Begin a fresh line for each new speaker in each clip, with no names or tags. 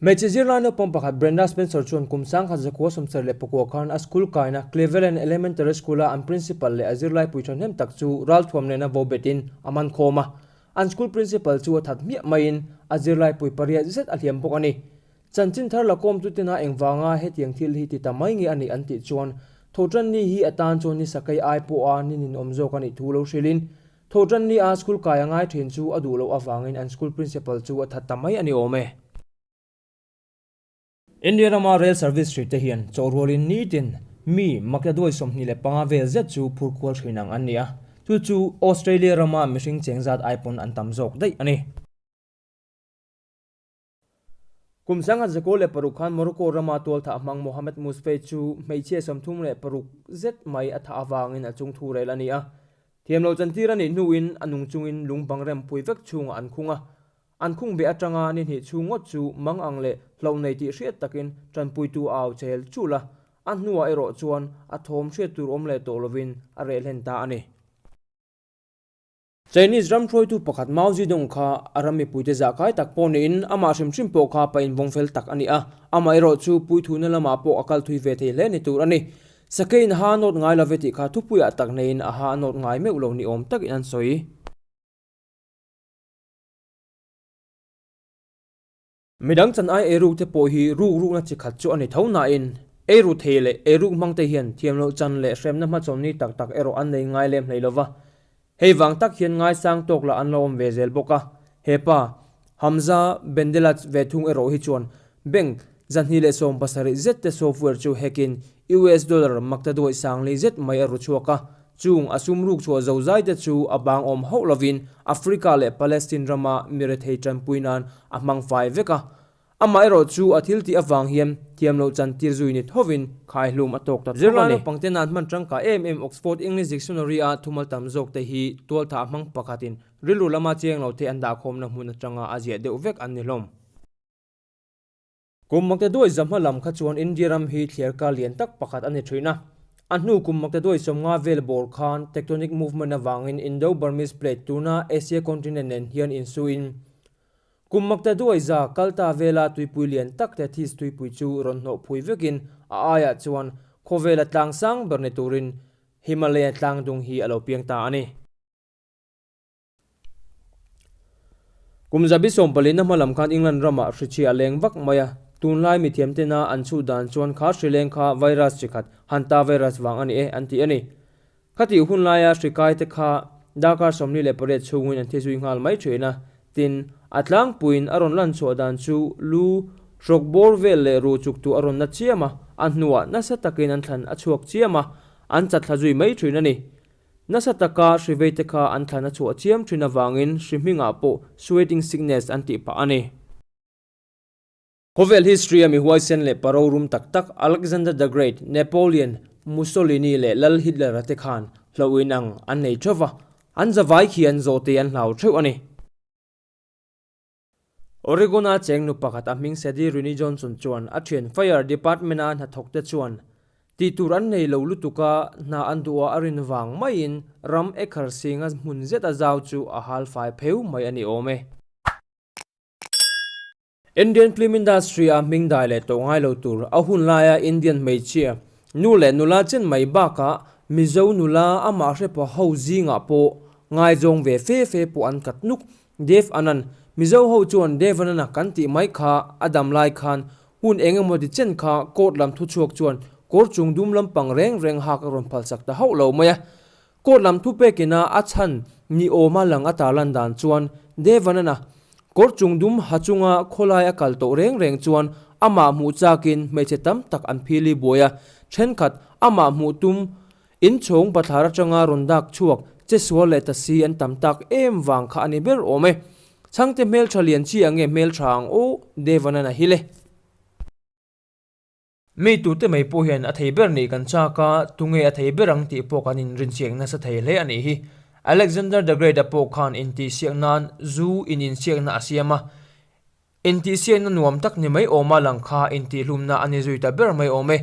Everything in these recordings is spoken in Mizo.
Hmeichhe zirlai naupang pakhat Brenda Spencer chuan kum sangkhat zakua sawmser leh pakua khan a school kaina Cleveland Elementary School-a an principal leh a zirlaipui thahnem tak chu ralthuam nena vo betin a man khawm a. An school principal chu a that hmiah maiin a zirlaipui pariat zet a hliam bawk a ni. Chanchin thar la kawmtu tena engvanga hetiang thil hi ti ta mai nge a nih an tih chuan Thotanni hi atan chuan ni sakei ai pawha ni ninawm zawk a nih thu lo hrilhin Tho tan ni a, school kai a ngai thin chu a duh loh avangin an school principal chu a that ta mai a ni awm e. India rama rail service hri te hian chawhrualin nitin mi makya duai sawmhnih leh panga vel zet chu phurkhual hrin ang an ni a, chu chu Australia rama mihring cheng zat ai pawn an tam zawk daih a ni. Kum sanga Zeko leh paruk khan Morocco rama tual thah hmang Mohamed Mousfait chu hmeichhia sawmthum leh paruk zet mai a thah avangin a chung thu rel a ni a. Thiam lo chantir a nih hnuin a nung chungin lung bangrem pui vek chhungah an khung a. An khung beh atanga ni hnih chhung ngawt chu mang ang leh hloh nei tih hriat takin tanpuitu a au chel chul a, a hnuah erawh chuan a thawm hriat tur awm leh tawh lovin a rehlen ta a ni. Chinese ramhruaitu pakhat Mao Zedong kha a ram mipuite zahkai tak pawh niin amah hrimhrim pawh kha pa invawng fel tak a ni a, amaherawh chu puithuhna lamah pawh a kalthui ve thei hle ni tur a ni. Sakeiin a ha a nawt ngai lo ve tih kha thupuiah tak neiin a ha a nawt ngai meuh lo ni awm takin an sawi. Midang chan ai ei rukte pawh hi ruk rukna chi khat chu a ni tho nain, ei ru thei leh ei ruk hmangte hian thiamloh chan leh hremna hmachhawn ni tak tak erawh an nei ngai lem hlei lo va. Hei vang tak hian ngaisang tawk lah an lo awm ve zel bawk a. Hepa, Hamza, Bendelaj ve thung erawh hi chuan bank, zahni leh sawm pasarih zette software chu hack in US dollar makta duai sang lei zet mai a ru chhuak a, chung a sum ruk chhuah zo zai te chu a bang awm hauh lovin Africa leh Palestine rama mi rethei tanpui nan a hmang fai vek a. Amaherawh chu a thiltih avang hian thiamloh chantir zui ni thovin khaihlum a tawk ta tawk a ni. Zirlai naupangte nan hman tangka em em Oxford English Dictionary a thumal tam zawk te hi tualtha a hmang pakhatin rilru lama chenglo te an dahkhawmna hmun atanga a ziah deuh vek an ni hlawm. Kum Makte Duai zahma lam kha chuan India ram hi thliar kar lian tak pakhat a ni thin a. A hnu Kum Makte Duai sawmnga vel bawr khan Tectonic Movement avangin Indo-Burmese Plate tuna Asia Continent nen hian insuiin Kum Makte Duai za kalta vela tuipui lian tak Tethys tuipui chu rawn hnawh phui vekin a aiah chuan khawvela tlang sang ber ni turin Himalaya tlang dung hi a lo piang ta a ni. Kum zabi sawmpalihna hmalam khan England ramah hrichhia a leng vak mai a. Tunlai mi thiamtena an chuh dan chuan khar hri leng kha virus chi khat Hantavirus vang a ni e an tih a ni. Khatih hun laia hri kaite kha darkar sawmli leh pariat chhungin an thizui nghal mai thin a. Tin, a tlangpuiin a rawn lan chhuah dan chu lu, hrok bawr vel leh ru chuktu a rawn na chiam a, a hnuah nasa takin an thlan a chhuak chiam a, an chathla zui mai thin a ni. Nasa taka hriveite kha an thlan a chhuah chiam thin avangin hri hmingah pawh sweating sickness an tih phah a ni. Khawvel history a mi huaisen leh parorum tak tak Alexander the Great, Napoleon, Mussolini leh Lal Hitler a te khan hlauh inang an nei theuh va, an zavai khi an zawh tei an hlau theuh a ni. Oregon-a chengnu pakhat a hming Sadie Rini Johnson chuan a thian Fire Department-a hnathawkte chuan tih tur an nei lo lutuka hna an duh a, a rin vang maiin ram Ecclesing-a hmun zeta zau chu a hal fai pheu mai a ni awm e. Indian Film Industry-a hming dai leh tawh ngai lo tur a hun laia Indian hmeichhia nu leh nula chen mai bakah Mizo nula amah hre pawh ho zingah pawh ngaizawng ve fe fe pawh an kat nuk Dev Anand, Mizo ho chuan Dev Anand-a kan tih mai kha a dam lai khan hun eng emaw ti chen kha court lam thu chhuak chuan kawr chung dum lampang reng reng hak a rawn phalsak ta hauh lo mai a. Court lam thu pekina a chhan ni awma lang ata lan dan chuan Dev Anand-a kawr chung dum ha chunga khawlai a kal tawh reng reng chuan amah hmuh chakin hmeichhe tam tak an phil i buai a. Thenkhat amah hmuh tum Inchhung pathlar atanga rawn dak chhuak, che sual leh ta si an tam tak em vang kha a ni ber awm e. Chhangte hmeltha lian chi ang nge hmeltha ang aw, Devanan a hil e. Mi tute mai pawh hian a thei ber nih kan chak a, tunge a thei ber ang tih pawh kan inrinchiang nasa thei hle a nih hi. Alexander the Great-a pawh khan intihsiak nan zu in insiakna a siam a. Intihsiakna nuam tak ni mai awma lang kha intihhlumna a ni zui ta ber mai awm e.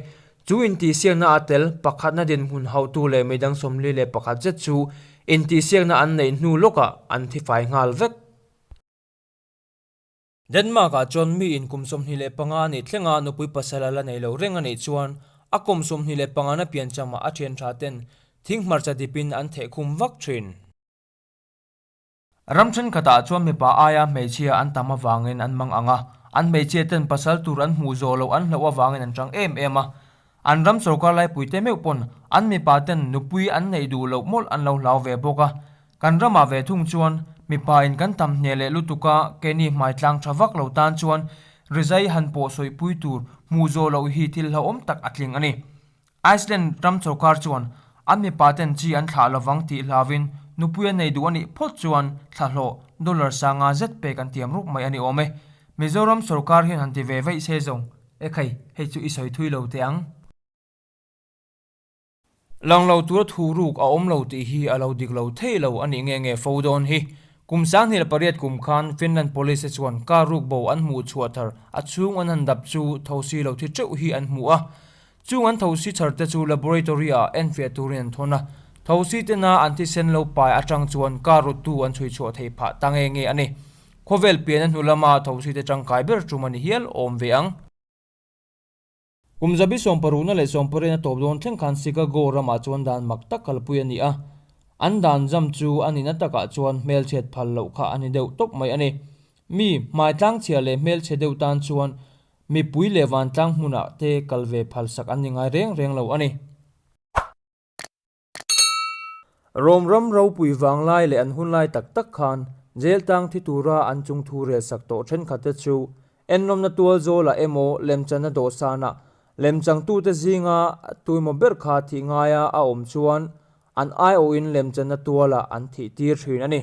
Chu intihsiakna a tel, pakhatna dinhmun hautu leh midang sawmli leh pakhat zet chu intihsiakna an neih hnu lawkah an thi fai nghal vek. Denmark-ah chuan mi inkum sawmhnih leh panga a nih thlengah nupui pasala la nei lo reng a nih chuan a kum sawmhnih leh panga na piancham ah a thianṭha ten thing hmarcha dipin an theh khum vak ṭhin. Ram thenkhatah chuan mipa aia hmeichhia an tam avangin an mang ang a, an hmeichhia ten pasal tur an hmuh zawh loh an hloh avangin an chang em em a. An ram sorkar laipuite meuh pawn an mipa ten nupui an neih duh loh mawlh an lo hlau ve bawk a. Kan ramah ve thung chuan mipa in kan tam hne leh lutuk a, keini hmaitlang tha vak lo tan chuan rizai han pawh sawipui tur hmuh zawh loh hi thil hlauhawm tak a tling a ni. Iceland ram sorkar chuan an mipa ten chi an thlah lo vang tih hlau in nupui a nei duh a nih phawt chuan thlahlawh dollar sanga zet pek an tiam ruk mai a ni awm e. Mizoram sorkar hian han ti ve vaih se zawng e khai hei chu i sawi thui lo teh ang. Lang lo tura thu ruk a awm lo tih hi a lo dik lo thei lo a nih nge nge fo dawn hi. Kum sanghnih la pariat kum khan Finland police te chuan car ruk bo an hmuh chhuah thar a chhung an han dap chu tho si lo thi teuh hi an hmu a. Chung an thosi chhar te chu laboratory-ah en fiah turin an thawn a, thosi tena an thisen lo pai atang chuan car ruttu an chhui chhuah thei phah ta nge nge a ni. Khawvel piana hnu lama thosi te tangkai ber ṭum a ni hial awm ve ang. Kum zabi sawmparuhna leh sawmpariahna tawp dawn thleng khan Chicago ramah chuan dan mak tak kalpui a ni a. An dan zam chu a nihna takah chuan hmelchhiat phal loh kha a ni deuh tawp mai a ni. Mi hmaitlang chhia leh hmelchhe deuh tan chuan mipui leh vantlang hmunah te kal ve phalsak an ni ngai reng reng lo a ni. Rome ram ropui vanglai leh an hunlai tak tak khan jail tang thi tura an chung thu rel sak tawh thenkhat te chu enlawmna tual zawlah emaw lemchanna dawhsanah lemchangtute zinga tuimaw ber kha thih ngaia a awm chuan an aiawhin lemchanna tuala an thih tir thin a ni.